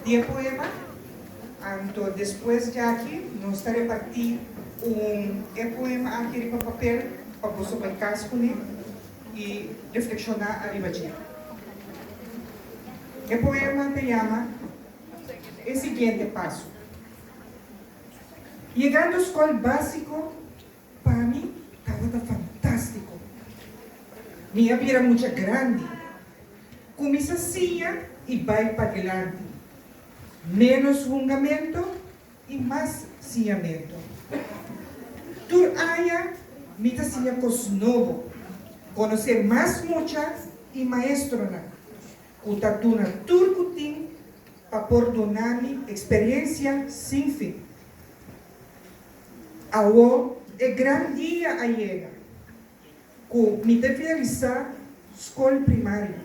Di e poema anto despues dja aki nos ta reparti un e poema aki riba papel pa boso bai cas cune y reflexiona ariba dje. E poema ta yama E siguiente paso. Yegando scol basico Pa mi tabata fantástiko. Mi a bira mucha grandi. Ku mi sa siña i bai padilanti. Ménos hungamento i mas siñamento. Tur aña mi ta siña kos nobo, konosé mas mucha i maestronan ku ta duna tur ku tin pa por duna mi eksperensia sin fin. Awo e gran dia a yega ku mi te finalisá skol primario.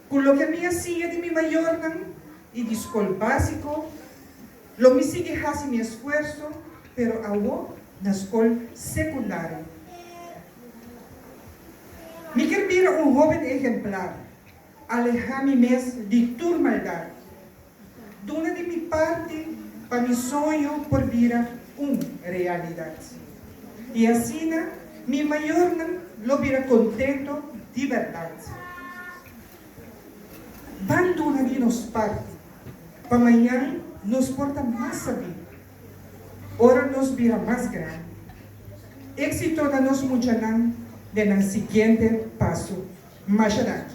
Ku loke mi a siña di mi mayornan i di skol básiko, lo mi sigui hasi mi esfuerso, pero awo na skol sekundario. Mi kier bira un hóben ehemplar. Aleha mi mes di tur maldad. Duna di mi parti pa mi soño por bira un realidad. I asina mi mayornan lo bira contento di berdad. Ban duna di nos parti pa mañan nos por ta mas sabí ora nos bira mas grandi. Exito na nos muchanan den nan siguiente paso. Masha danki.